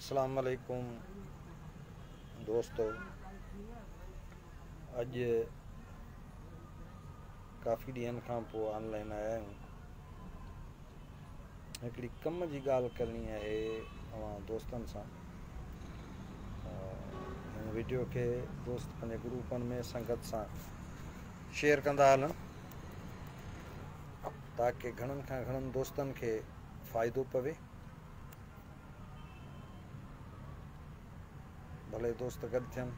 السلام عليڪم دوستو اڄ ڪافي ڏينهن کان پوء آنلائن آيا آهيون هڪڙي ڪم جي ڳالهه ڪرڻي آهي اوهان دوستن سان هن ويڊيو کي دوست پنهنجي گروپن ۾ سنگت سان شيئر ڪندا هلن تاڪہ گھڻن کان گھڻن دوستن کي فائدو پوي ڀلي دوست گڏ ٿين.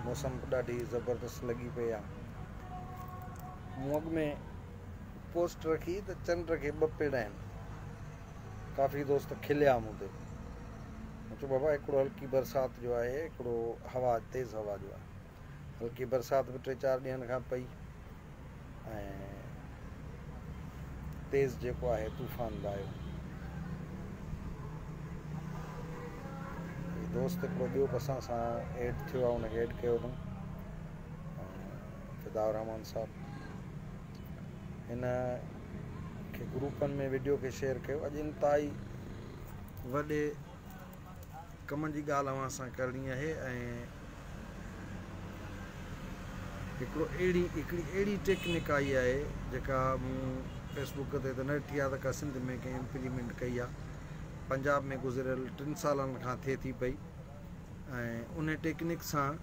موسم به ڏاڍي زبردست لڳي پئي آ. مون اڳ ۾ پوسٽ رکي ته چنڊ کي ٻه پيڙا آهن. ڪافي دوست کليا مون تي. مون چيو بابا هڪڙو هلڪي برسات جو آهي هڪڙو هوا تيز هوا جو آهي. هلڪي برسات به ٽي چار ڏينهن کان پئي ۽ تيز جيڪو آهي طوفان به آيو دوست هڪڙو ٻيو به اسان سان ايڊ ٿيو آهي ان کي ايڊ ڪيو اٿم فدا الرحمان صاحب هن کي گروپن ۾ ويڊيو کي شيئر ڪيو اڄ انتهائي وڏي ڪمن جي ڳالهه اوهان سان ڪرڻي آهي ۽ هڪڙي اهڙي ٽيڪنڪ آئي آهي جيڪا مون فيس بوڪ تي ته نه ڏٺي آهي ته ڪا سنڌ ۾ ڪنهن امپليمينٽ ڪئي آهي پنجاب ۾ گذريل ٽن سالن کان ٿئي ٿي پئي ۽ ان ٽيڪنڪ سان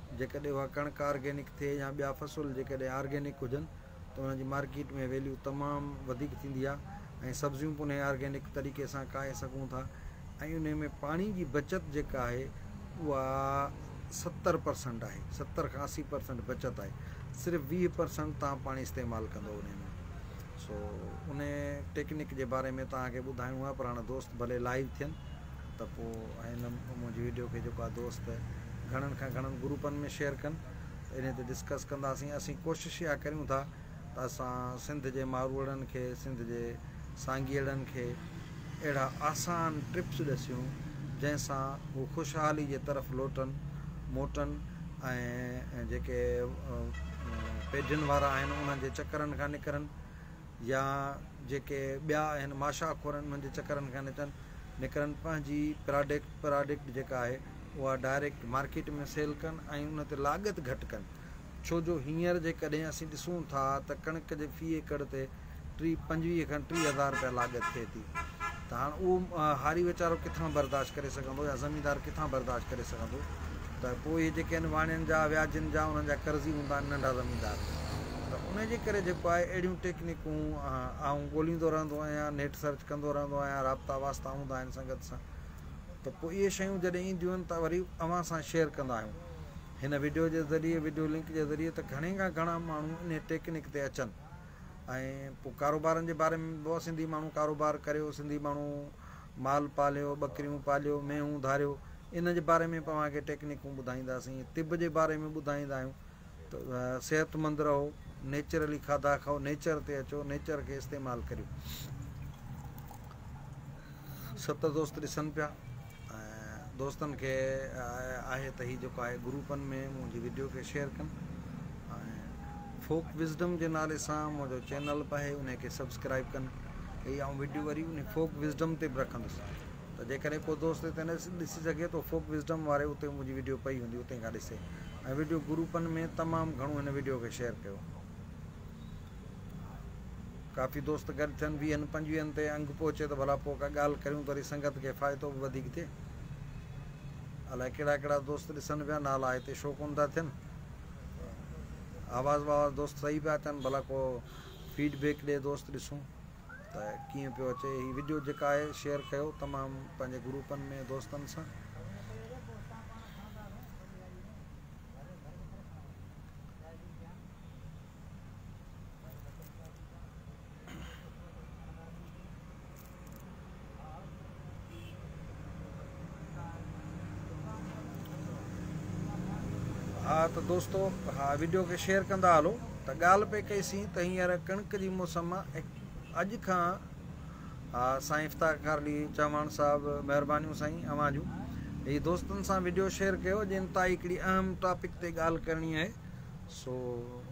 جيڪڏهن اها ڪڻڪ آرگينڪ ٿئي يا ٻيا فصل جيڪڏهن آرگينڪ هجن ته انهن جي مارڪيٽ ۾ ويليو تمام وڌيڪ ٿيندي آهي ۽ سبزيون به انهي آرگينڪ طريقي سان کائي سگهون ٿا ۽ انهي ۾ پاڻي جي بچت جيڪا آهي اها ستر پرسنٽ آهي ستر کان اسي پرسنٽ بچت آهي صرف ويهه پرسنٽ تان پاڻي استعمال ڪندو انهي ۾ سو انهي ٽيڪنڪ جي باري ۾ تان کي ٻڌائڻو آهي پراڻا دوست ڀلي لائيو ٿين ته پوء هن منهنجي ويڊيو کي جيڪو آ دوست گهڻن کان گهڻن گروپن ۾ شيئر ڪن ته انهي تي ڊسڪس ڪنداسين اسين ڪوشش اها ڪريون ٿا ته اسان سنڌ جي ماروئڙن کي سنڌ جي سانگيئڙن کي اهڙا آسان ٽپس ڏسيون جنهن سان هو خوشحالي جي طرف لوٽن موٽن ۽ جيڪي پيڊين وارا آهن انهن جي چڪرن کان نڪرن يا جيڪي ٻيا آهن ماشا خور آهن انهن جي چڪرن کان نڪرن نڪرن پنهنجي پراڊڪ پراڊڪٽ جيڪا آهي اها ڊائريڪٽ مارڪيٽ ۾ سيل ڪن ۽ ان تي لاڳت گهٽ ڪن ڇو جو هينئر جيڪڏهن اسين ڏسون ٿا ته ڪڻڪ جي في ايڪڙ تي ٽي پنجويهه کان ٽيهه هزار رپيا لاڳت ٿئي ٿي ته هاڻ اهو هاري ويچارو ڪٿان برداشت ڪري سگهندو يا زميندار ڪٿان برداشت ڪري سگهندو ته پوء اهي جيڪي آهن واڻين جا وياجين جا انهن جا قرضي هوندا آهن ننڍا زميندار ته ان جي ڪري جيڪو آهي اهڙيون ٽيڪنيڪون آئون ڳوليندو رهندو آهيان نيٽ سرچ ڪندو رهندو آهيان رابطا واسطا هوندا آهن سنگت سان ته پوء اهي شيون جڏهن اينديون آهن ته وري اوهان سان شيئر ڪندا آهيون هن ويڊيو جي ذريعي ويڊيو لنڪ جي ذريعي ته گهڻي کان گهڻا ماڻهو ان ٽيڪنيڪ تي اچن ۽ پوء ڪاروبارن جي باري ۾ به سنڌي ماڻهو ڪاروبار ڪريو سنڌي ماڻهو مال پاليو ٻڪريون پاليو مينهون ڌاريو ان جي باري ۾ اوهان کي ٽيڪنيڪون ٻڌائينداسين طب جي باري ۾ ٻڌائيندا آهيون ته صحت مند رهو نيچرلي کاڌا کائو نيچر تي اچو نيچر کي استعمال ڪريو ست دوست ڏسن پيا دوستن کي آهي ته هي جيڪو آهي گروپن ۾ منهنجي وڊيو کي شيئر ڪن ۽ فوڪ وزڊم جي نالي سان منهنجو چينل به آهي انهي کي سبسڪرائب ڪن هي آئون وڊيو وري انهي فوڪ وزڊم تي به رکندس ته جيڪڏهن ڪو دوست هتي نه ڏسي سگهي ته فوڪ وزڊم واري اتي منهنجي وڊيو پئي هوندي اتي کان ڏسي ۽ وڊيو گروپن ۾ تمام گهڻو هن وڊيو کي شيئر ڪيو. ڪافي دوست گڏ ٿين، ويهن پنجويهن تي انگ پهچي ته ڀلا پوء ڪا ڳالهه ڪريون ته وري سنگت کي فائتو به وڌيڪ ٿئي. الاء ڪهڙا ڪهڙا دوست ڏسن پيا، نالا هتي شو ڪونه ٿا ٿين. آواز واواز دوست صحيح پيا اچن، ڀلا ڪو فيڊ بيڪ ڏي دوست ڏسون ته ڪيئن پيو اچي. هي وڊيو جيڪا آهي شيئر ڪيو تمام پنهنجي گروپن ۾ دوستن سان. ها ته دوستو ها ويڊيو کي شيئر ڪندا هلو ته ڳالهه پئي ڪئيسين ته هينئر ڪڻڪ جي موسم اڄ کان ها سائين افتاق کارلي چوهاڻ صاحب مهربانيون سائين اوهان جون هي دوستن سان ويڊيو شيئر ڪيو جن تائي هڪڙي اهم ٽاپڪ تي ڳالهه ڪرڻي آهي سو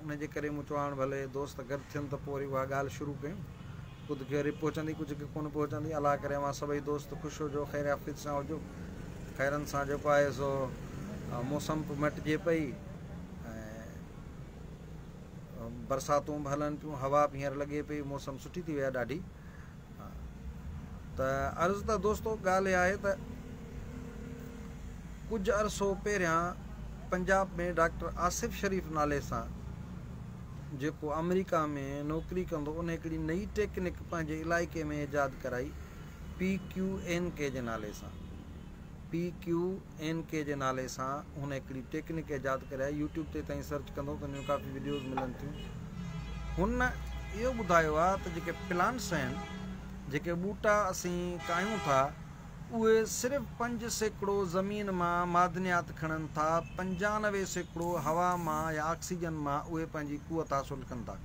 ان جي ڪري مون چيو هاڻ ڀلي دوست گڏ ٿين ته پوء وري اها ڳالهه شروع ڪيون. ڪجهه کي رپ پهچندي ڪجهه کي ڪونه پهچندي. الله ڪري اوهان سڀئي دوست خوش هجو خير عافيت سان هجو. خيرن سان جيڪو آهي سو موسم به مٽجي پئي ۽ برساتون به هلن پيون هوا به هينئر لڳي پئي موسم سٺي ٿي وئي آهي ڏاڍي. ته عرض ته دوستو ڳالهه اها آهي ته ڪجهه عرصو پهريان پنجاب ۾ ڊاڪٽر آصف شريف نالي سان جيڪو آمريڪا ۾ نوڪري ڪندو ان هڪڙي نئي ٽيڪنڪ پنهنجي علائقي ۾ ايجاد ڪرائي P Q N K G نالي سان P Q N K G نالي سان هن هڪڙي ٽيڪنڪ ايجاد ڪري آهي يوٽيوب تي توهين سرچ ڪندو ته ان جون ڪافي وڊيوز ملن ٿيون هن اهو ٻڌايو آهي ته جيڪي پلانٽس آهن جيڪي ٻوٽا اسين ڪاهيون ٿا اهي صرف پنج سيڪڙو زمين مان معدنيات کڻن ٿا پنجانوي سيڪڙو هوا مان يا آڪسيجن مان اهي پنهنجي قوت حاصل ڪن ٿا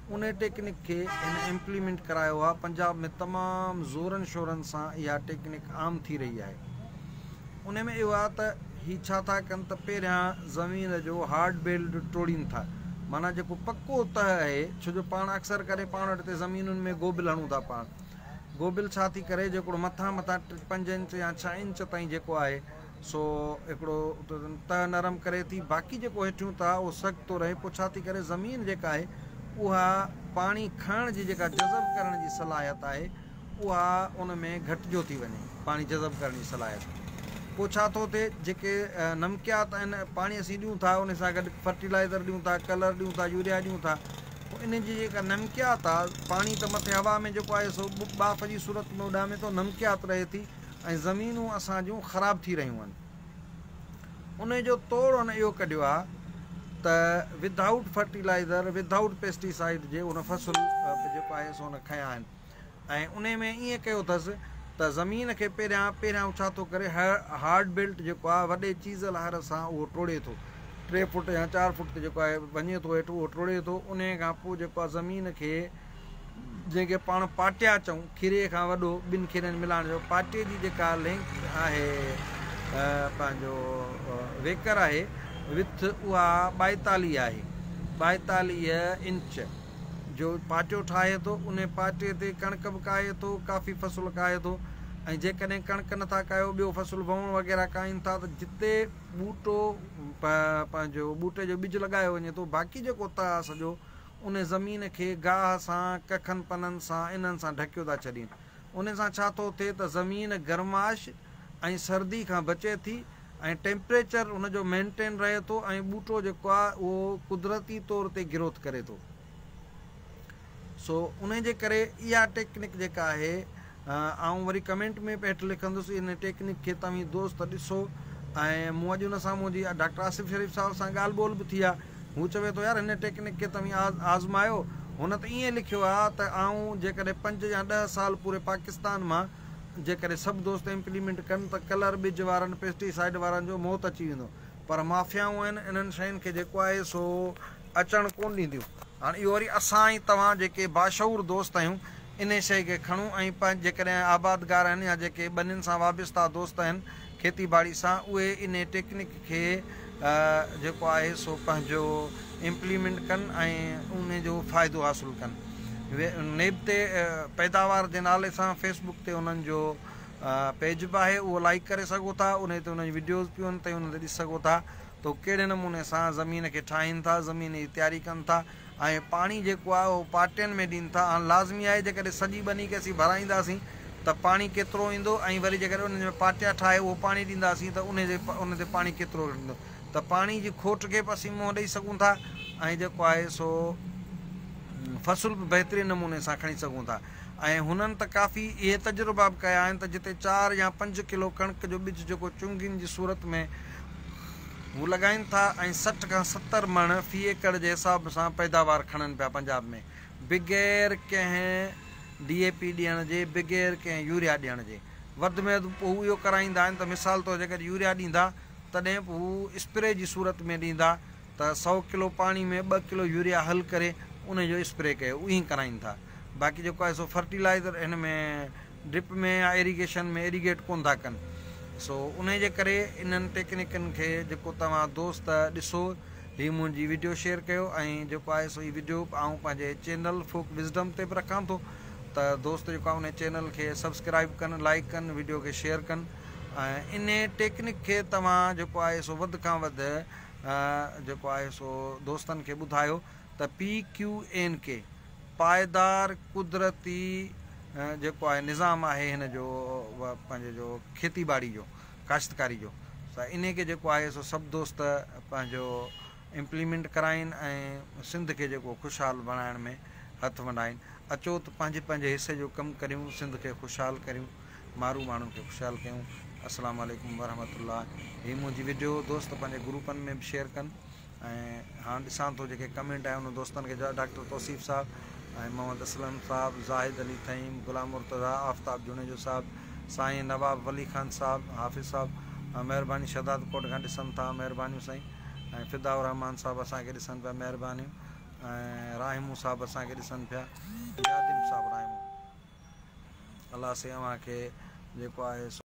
ان ٽيڪنڪ کي هن امپليمينٽ ڪرايو آهي پنجاب ۾ تمام زورن شورن سان اها ٽيڪنڪ عام ٿي رهي آهي ان ۾ اهو آهي ته هي ڇا ٿا ڪن ته پهريان زمين جو هارڊ بيلڊ ٽوڙين ٿا معنيٰ جيڪو پڪو تهه آهي ڇو جو پاڻ اڪثر ڪري پاڻ وٽ تي زمينن ۾ گوبل هڻون ٿا پاڻ گوبل ڇا ٿي ڪري جيڪو مٿان مٿان پنج انچ يا ڇهه انچ تائين جيڪو آهي سو هڪڙو تهه نرم ڪري ٿي باقي جيڪو هيٺيون تهه اهو سخت ٿو رهي پوء ڇا ٿي ڪري زمين جيڪا آهي اها پاڻي کڻڻ جي جيڪا جذب ڪرڻ جي صلاحيت آهي اها ان ۾ گهٽجو ٿي وڃي پاڻي جذب ڪرڻ جي صلاحيت پوء ڇا ٿو ٿئي جيڪي نمڪيات آهن پاڻي اسين ڏيون ٿا ان سان گڏ فرٽيلائزر ڏيون ٿا ڪلر ڏيون ٿا يوريا ڏيون ٿا پوء ان جي جيڪا نمڪيات آهي پاڻي ته مٿي هوا ۾ جيڪو آهي سو ٻاڦ جي صورت ۾ اڏامي ٿو نمڪيات رهي ٿي ۽ زمينون اسان جون خراب ٿي رهيون آهن انهي جو توڙ هن اهو ڪڍيو آهي ته without fertilizer without pesticide جي ان فصل جيڪو آهي سو ان کنيا آهن ۽ انهي ۾ ائين ڪيو اٿس ته زمين کي پهريان پهريان هو ڇا ٿو ڪري هارڊ بيلٽ جيڪو آهي وڏي چيزل هر سان اهو ٽوڙي ٿو ٽي فوٽ يا چار فوٽ تي جيڪو آهي وڃي ٿو هيٺ اهو ٽوڙي ٿو انهي کان پوء جيڪو آهي زمين کي جنهن کي پاڻ پاٽيا چئون، کيري کان وڏو، ٻن کيرين ملائڻ جو پاٽي جي جيڪا لينڪ آهي پنهنجو ويڪر آهي وٿ اها ٻائيتاليهه آهي ٻائيتاليهه انچ جو پاٽيو ٺاهي ٿو ان پاٽي تي ڪڻڪ به ڪاهي ٿو ڪافي فصل ڪاهي ٿو ۽ جيڪڏهن ڪڻڪ نٿا ڪاهيو ٻيو فصل وهون وغيره ڪاهين ٿا ته جتي ٻوٽو پنهنجو ٻوٽي جو ٻج لڳايو وڃي ٿو باقي جيڪو تاء سڄو انهي زمين کي گاهه سان، ڪکن پنن سان، انهن سان ڍڪيو ٿا ڇڏين. انهي سان ڇا ٿو ٿئي ته زمين گرماش ۽ سردي کان بچي ٿي ۽ ٽيمپريچر ان جو مينٽين رهي ٿو ۽ ٻوٽو جيڪو آهي اهو قدرتي طور تي گروٿ ڪري ٿو. سو انهي جي ڪري اها ٽيڪنڪ جيڪا آهي آئون وري ڪمينٽ ۾ به هيٺ لکندس ان ٽيڪنڪ کي توهين دوست ڏسو ۽ مون اڄ ان سان منهنجي ڊاڪٽر آصف شريف صاحب سان ڳالهه ٻولهه به ٿي آ هو چوي ٿو يار هن ٽيڪنڪ کي توهين آزمايو هن ته ائين لکيو آ ته آئون جيڪڏهن پنج يا ڏهه سال پوري پاڪستان مان جيڪڏهن سڀ دوست امپليمينٽ ڪن ته ڪلر ٻج وارن پيسٽي سائيڊ وارن جو موت اچي ويندو پر مافيائون آهن انهن شين کي جيڪو آهي سو اچڻ ڪون ڏينديون هاڻ اهو وري اسان ۽ توهان جيڪي باشعور دوست آهيون انهي شئي کي کڻون ۽ پنهنجي جيڪڏهن آبادگار آهن يا جيڪي ٻنين سان وابسته دوست آهن کيتي ٻاڙي سان اهي انهي ٽيڪنڪ کي جيڪو آهي سو پنهنجو امپليمنٽ ڪن ۽ انهي جو فائدو حاصل ڪن نيب تي پيداوار جي نالي سان فيسبڪ تي انهن جو پيج به آهي اهو لائيڪ ڪري سگهو ٿا انهي تي انهن جون وڊيوز پيون هلن ٿيون انهن تي ڏسي سگهو ٿا ته هو ڪهڙي نموني سان زمين کي ٺاهين ٿا زمين جي تياري ڪن ٿا ۽ پاڻي جيڪو آهي اهو پارٽين ۾ ڏين ٿا هاڻ لازمي آهي جيڪڏهن سڄي ٻني کي اسين ڀرائينداسين ته پاڻي ڪيترو ايندو ۽ وري جيڪڏهن انهن ۾ پارٽيا ٺاهي اهو پاڻي ڏينداسين ته انهي جي انهن تي پاڻي ڪيترو ڪرندو ته پاڻي جي کوٽ کي به اسين منهن ڏئي سگهون ٿا ۽ جيڪو آهي سو فصل به بهترين نموني سان کڻي سگهون ٿا ۽ هنن ته ڪافي اهي تجربا به ڪيا آهن ته جتي چار يا پنج ڪلو ڪڻڪ جو ٻج جيڪو چنگين جي صورت ۾ هو لڳائين ٿا ۽ سٺ کان ستر مڻ في ايڪڙ جي حساب سان پيداوار کڻن پيا پنجاب ۾ بغير ڪنهن ڊي اي پي ڏيڻ جي بغير ڪنهن يوريا ڏيڻ جي وڌ ۾ وڌ هو اهو ڪرائيندا آهن ته مثال طور جيڪڏهن يوريا ڏيندا تڏهن به هو اسپري جي صورت ۾ ڏيندا ته سؤ ڪلو پاڻي ۾ ٻه ڪلو يوريا حل ڪري ان جو اسپري ڪيو اهي ڪراين ٿا باقي جيڪو آهي سو فرٽيلائزر هن ۾ ڊرپ ۾ يا ايريگيشن ۾ ايريگيٽ ڪون ٿا ڪن سو ان جي ڪري انهن ٽيڪنيڪن کي جيڪو توهان دوست ڏسو هي منهنجي ويڊيو شيئر ڪيو ۽ جيڪو آهي سو هي ويڊيو آئون پنهنجي چينل فوڪ وزڊم تي به رکان ٿو ته دوست جيڪو ان چينل کي سبسڪرائب ڪن لائڪ ڪن ويڊيو کي شيئر ڪن ۽ ان ٽيڪنڪ کي توهان جيڪو آهي سو وڌ کان وڌ جيڪو آهي سو دوستن کي ٻڌايو ته پي ڪيو اين ڪي پائيدار قدرتي جيڪو آهي نظام آهي هن جو پنهنجي جو کيتي ٻاڙي جو ڪاشتڪاري جو سا انهي کي جيڪو آهي سو سڀ دوست پنهنجو امپليمنٽ ڪرائين ۽ سنڌ کي جيڪو خوشحال بڻائڻ ۾ هٿ ونڊائين اچو ته پنهنجي پنهنجي حصي جو ڪم ڪريون سنڌ کي خوشحال ڪريون مارو ماڻهن کي خوشحال ڪيون السلام عليڪم ورحمة الله هي منهنجي وڊيو دوست پنهنجي گروپن ۾ به شيئر ڪن ۽ هاڻ ڏسان ٿو جيڪي ڪمينٽ آهي انهن دوستن کي جواب ڊاڪٽر توصيف صاحب ۽ محمد اسلم صاحب زاهد علي ٿهيم غلام مرتضيٰ آفتاب جوڻيجو صاحب سائين نواب ولي خان صاحب حافظ صاحب مهرباني شهداد ڪوٽ کان ڏسن ٿا مهربانيون سائين ۽ فدا الرحمان صاحب اسان کي ڏسن پيا مهربانيون ۽ راحمون صاحب اسان کي ڏسن پيا ياديم صاحب راحمون الله سائين اوهان کي جيڪو آهي سو.